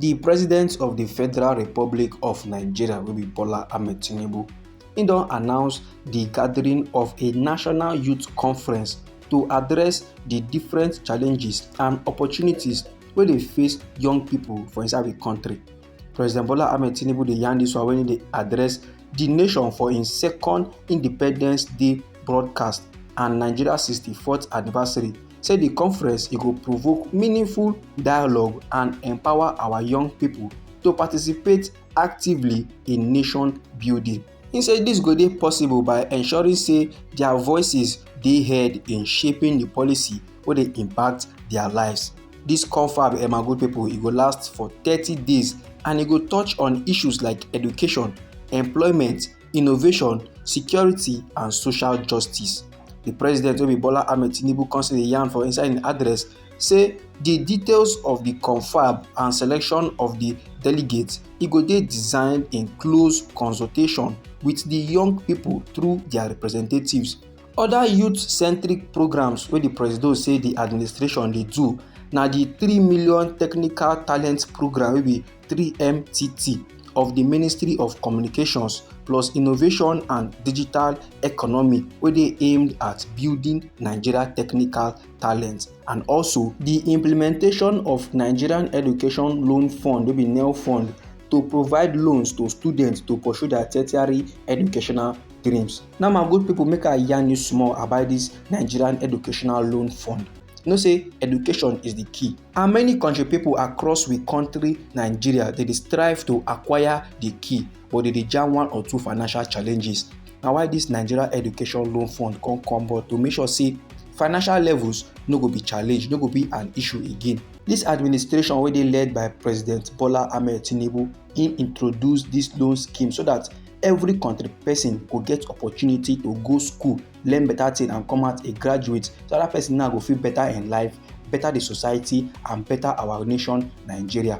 di president of di federal republic of nigeria wey be bola ahmed tinubu im don announce di gathering of a national youth conference to address di different challenges and opportunities wey dey face young pipo for inside di kontri President Bola Ahmed Tinubu dey yarn this one when he dey address the nation for im second Independence Day broadcast and Nigeria 64th anniversary, say the conference e go provoke meaningful dialogue and empower our young people to participate actively in nation building. He say dis go dey possible by ensuring say dia voices dey heard in shaping di policy wey dey impact dia lives. Dis confab Emma Good People e go last for thirty days and e go touch on issues like education, employment, innovation, security and social justice. Di president wey be Bola Ahmed Tinubu come still dey yarn for inside im address say di details of di confab and selection of di delegates e go dey designed in close consultation wit di young pipo through dia representatives. Oda youth-centric programs wey di presido say di administration dey do na di three million technical talent programme wey be 3mtt of di ministry of communications plus innovation and digital economy wey dey aimed at building nigeria technical talent. and also di implementation of nigerian education loan fund wey be nel fund to provide loans to students to pursue their tertiary educational dreams now my good people make i yarn you small about this nigerian educational loan fund you know say education is the key and many country people across we country nigeria they dey strive to acquire the key but they dey jam one or two financial challenges na why this nigeria education loan fund come come but to make sure say financial levels no go be challenge no go be an issue again This administration wey dey led by president bola ahmed tinubu im introduce this loan scheme so that every country person go get opportunity to go school learn better thing and come out a graduate so that person now go feel better in life better the society and better our nation nigeria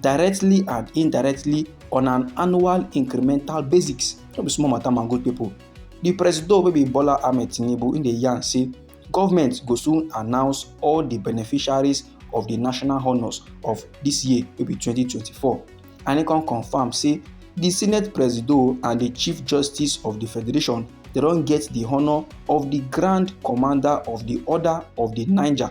directly and indirectly on an annual incremental basis no be small matter my good people di presido wey be bola ahmed tinubu im dey yarn say government go soon announce all di beneficiaries of di national honours of dis year wey be 2024 and e come confam say di senate presido and di chief justice of di federation dem don get di honour of di grand commander of di order of di niger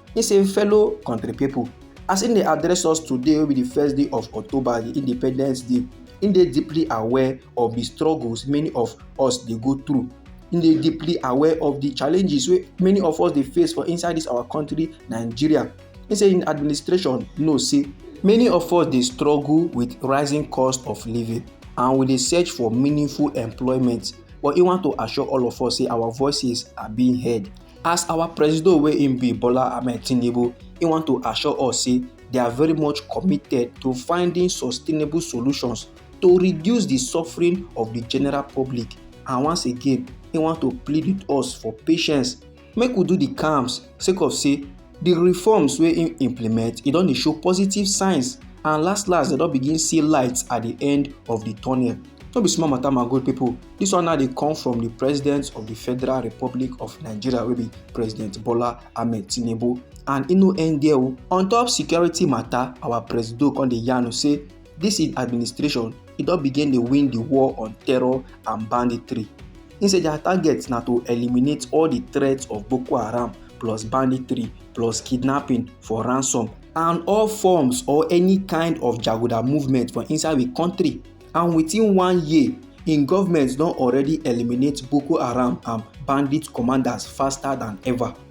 He say fellow country people, as im dey address us today wey be di first day of October, di Independence Day, im dey deeply aware of di struggles many of us dey go through. Im dey deeply aware of di challenges wey many of us dey face for inside dis our country Nigeria. Im say im administration know say many of us dey struggle with rising cost of living and we dey search for meaningful employment but im want to assure all of us say our voices are being heard. As our presido wey im be Bola Ahmed Tinubu, im want to assure us say they are very much committed to finding sustainable solutions to reduce the suffering of the general public and once again im want to plead with us for patience make we do the calms sake of say di reforms wey im implement e don dey show positive signs and last last dem don begin see light at di end of di tunnel no be small matter my good people. This one now dey come from the president of the Federal Republic of Nigeria wey be President Bola Ahmed Tinubu and e no end there o. On top security matter, our presido come dey yarn say dis im administration e don begin dey win di war on terror and banditry im say dia target na to eliminate all di threats of boko haram plus banditry plus kidnapping for ransom and all forms or any kind of jaguda movement for inside we kontri and within one year im goment don already eliminate boko haram and bandit commanders faster dan ever.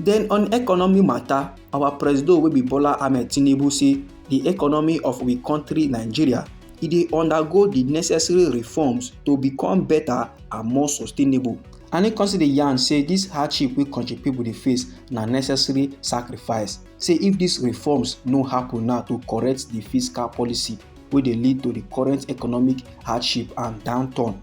Then on economy matter, our presido wey be Bola Ahmed Tinubu say the economy of we country Nigeria e dey undergo the necessary reforms to become better and more sustainable. And he consider the yarn say this hardship wey country people dey face na necessary sacrifice. Say if these reforms no happen now to correct the fiscal policy wey dey lead to the current economic hardship and downturn,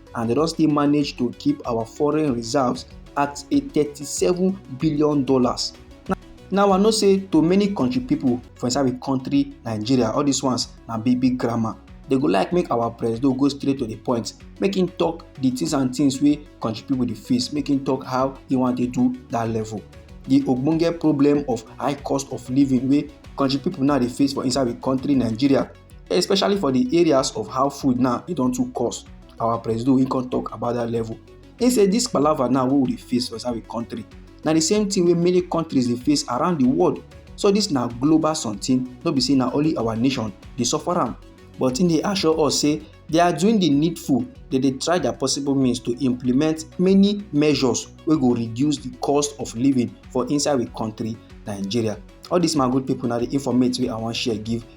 and they don still manage to keep our foreign reserves at a thirty-seven billion dollars now i know say to many country people for inside the country nigeria all these ones na big big grammar they go like make our president go straight to the point make him talk the things and things wey country people dey face make him talk how he wan take do that level the ogbonge problem of high cost of living wey country people now dey face for inside the country nigeria especially for the areas of how food now e don too cost our presido he come talk about that level he say this palava now wey we dey face for inside the country na the same thing wey many countries dey face around the world so this na global something no be say na only our nation dey suffer am but he dey assure us say they are doing the needful they dey try their possible means to implement many measures wey go reduce the cost of living for inside the country nigeria all this my good people na the informate wey i wan share give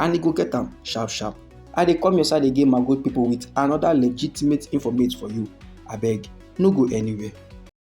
and e go get am sharp sharp. I dey come your side again my good people with another legitimate informate for you. Abeg, no go anywhere.